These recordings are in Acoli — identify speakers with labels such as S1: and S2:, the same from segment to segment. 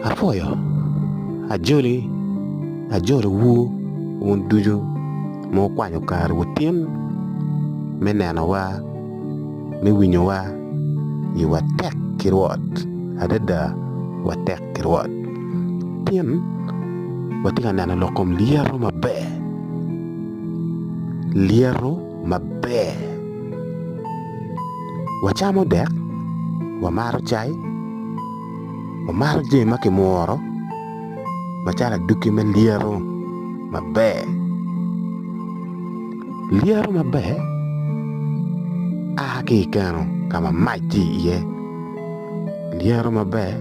S1: Apwoyo ajoli ajolowu wun ducu ma wukwanyo kare wutin me nenowa me winyowa ni watek ki Rwot adada watek ki Rwot pien watye ka neno lok kom lyeto maber lyeto maber. Wacamo dek, wamaro cai, wamaro jami ma kimworo macalo aduki me lyeto maber. Lyeto maber a ki i keno ka ma mac tye iye, lyeto maber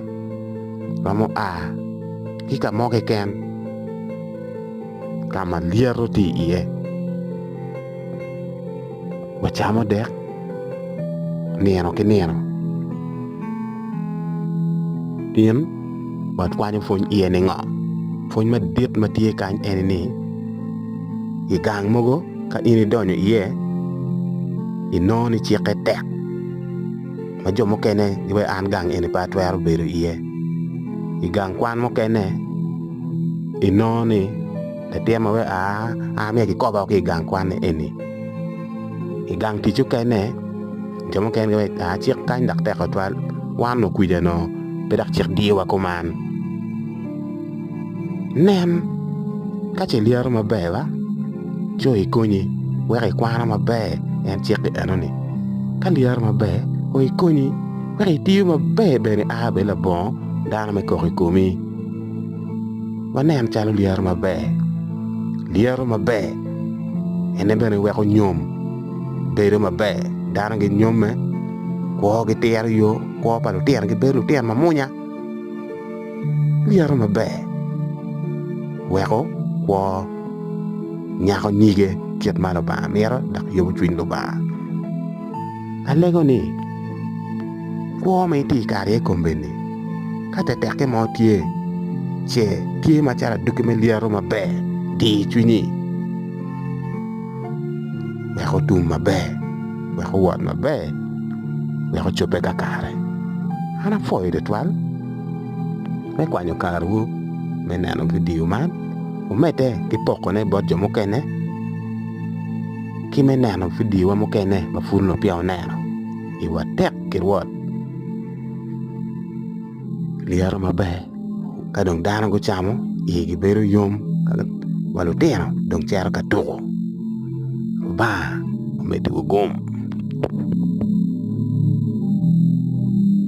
S1: romo a ki ka mo keken. ka ma lyeto tye iye wacamo dek nino ki nino in watwanyo pwony iye ningo? Pwony madit ma tye kany eni ni i gang mogo ka in idonyo iye inongo ni cikke tek. ma jo mukene giwaco an gang eni pe atwero bedo iye. I gang kwan mukene inongo ni latin ma wek aa aa myero kikoba woko ki i gang kwan eni. I gang tic mukene jo mukene giwaco ni aa cik kany dok tek tutwal wan okwija onongo pe dok cik diyowa kuman. Nen, ka ce ilyero maber ba, co ikonyi wek ikwano maber en cik enoni, ka ilyero maber kono ikonyi wek itiyo maber bene i aa bedi labongo dano me kok i komi. Wanen calo lyero maber, lyero maber en bene weko nyom bedo maber dano ginyomme, kwogi tito yo, kwo pa lutino gibedo lutino mamwonya. lyeto maber weko kwo nyako nyige kit ma Lubanga mito dok yobo cwiny Lubanga. Alego ni kwo ma itye ka kare iye i kombeddi ka tetekke mo tye ce tye macalo adwogi me lyeto maber di cwinyi wek otum maber wek owot maber wek ocobbe kakare. An apwoyo tutwal. me kwanyo karewu me neno vidio man, wumedde ki pokone bot jo mukene ki me neno vidiowa mukene ma pud onongo peya wuneno. Iwa tek ki Rwot. Lyeto maber ka dong dano gucamo igi bedo yom wa lutino dong cito ka tuko. Lubanga omeddiwu gum.